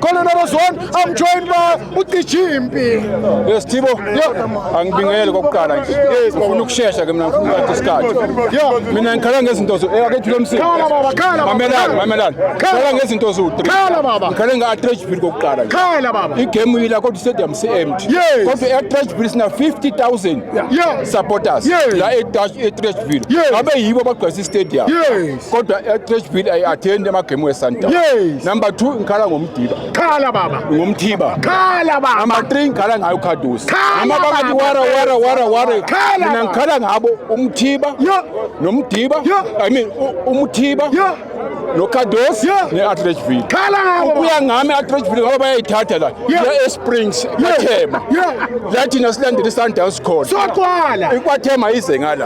Khona nabazwana I'm joined by uDJ Mpi. Yes Thibo. Yeah. Angibingelele kokuqala nje. Yes, ngifuna ukushesha ke mina ngifuna ukuthatha isikhathi. Yeah. Mina ngikhala ngezinto zo eh akethu lomsini. Khala baba, khala baba. Mamelani, mamelani. Khala ngezinto zo 3. Khala baba. Ngikhala nga Atreach Bill kokuqala nje. Khala baba. Igame yila kodwa stadium si empty. Yes. Kodwa Atreach Bill sina 50000. Yeah. Supporters. Yes. La eTash Atreach Bill. Yes. Abe yibo abagcwalisa istadium. Yes. kodwa i-church bill ayi-athendi amagemu wesundown yes. number two ngikhala ngomdiba khala baba ngomthiba khala baba number three ngikhala ngayo ukhadusi noma bakathi wara wara wara wara mina ngikhala ngabo umthiba nomdiba i mean umthiba nokhadosi ne-atrechville khala ngabo ukuya ngami i-atrechville ngoba bayayithatha la ya esprings kwathema la thina silandela isundowns khona sogcwala ikwathema ize ngala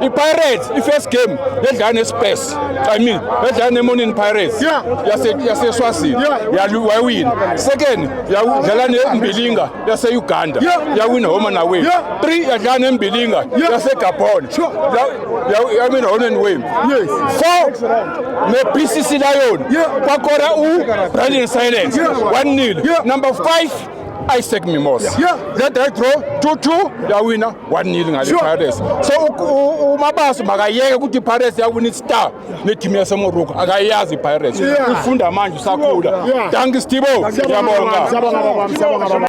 ipirates i-first game yedlala nespes i mean yedlala nemonini pirates yaseswazini wayewina second yadlala nembilinga yase-uganda yawina homa naway three yadlala nembilinga yasegabon yawina hona niway four ne-b c c lion kwakora ubrandon silence one nil number five isaac mimosa that i draw two two yawina 1-0 ngale Sure. Pirates. So u- u- uMabaso makayeke ukuthi iPirates yawina i-Star ne-team yaseMorocco. Akayazi iPirates. Yeah. Ufunda manje usakhula. Yeah. Danki Stibo. Siyabonga. Siyabonga baba, siyabonga baba.